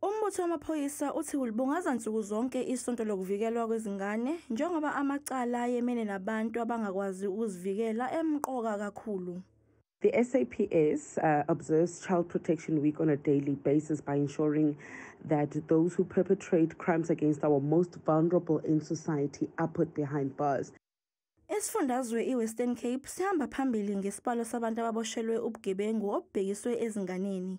Umbutho wamaphoyisa uthi ulibungaza nsuku zonke isonto lokuvikelwa kwezingane njengoba amacala ayemene nabantu abangakwazi ukuzivikela emqoka kakhulu. The SAPS uh, observes Child Protection Week on a daily basis by ensuring that those who perpetrate crimes against our most vulnerable in society are put behind bars. Isifundazwe iWestern Cape sihamba phambili ngesibalo sabantu ababoshelwe ubugebengu obubhekiswe ezinganeni.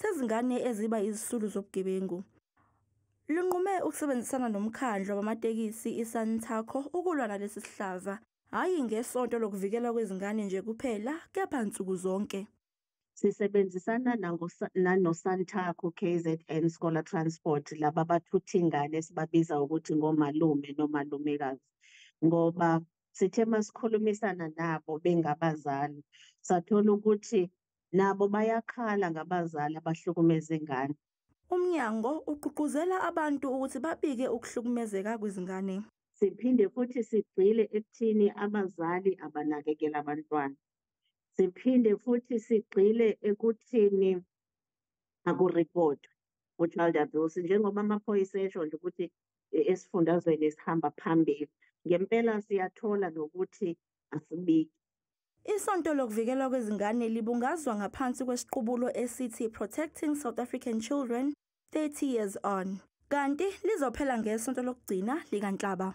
sezingane eziba izisulu zobugebengu linqume ukusebenzisana nomkhandlu wabamatekisi iSantaco ukulwa nalesi sihlava hhayi ngesonto lokuvikelwa kwezingane nje kuphela kepha nsuku zonke sisebenzisana nanoSantaco KZN Scholar Transport laba bathutha ingane sibabiza ukuthi ngomalume nomalumekazi ngoba sithe masikhulumisana nabo bengabazali sathola ukuthi nabo bayakhala ngabazali abahlukumeza ingane. Umnyango ugqugquzela abantu ukuthi babike ukuhlukumezeka kwezingane. Siphinde futhi sigxile ekuthini abazali abanakekela abantwana. Siphinde futhi sigxile ekuthini akuripotwe u-child abuse njengoba amaphoyisa esho nje ukuthi e, esifundazweni esihamba phambili ngempela siyathola nokuthi asibiki Isonto lokuvikelwa kwezingane libungazwa ngaphansi kwesiqubulo esithi Protecting South African Children 30 Years On, kanti lizophela ngesonto lokugcina likaNhlaba.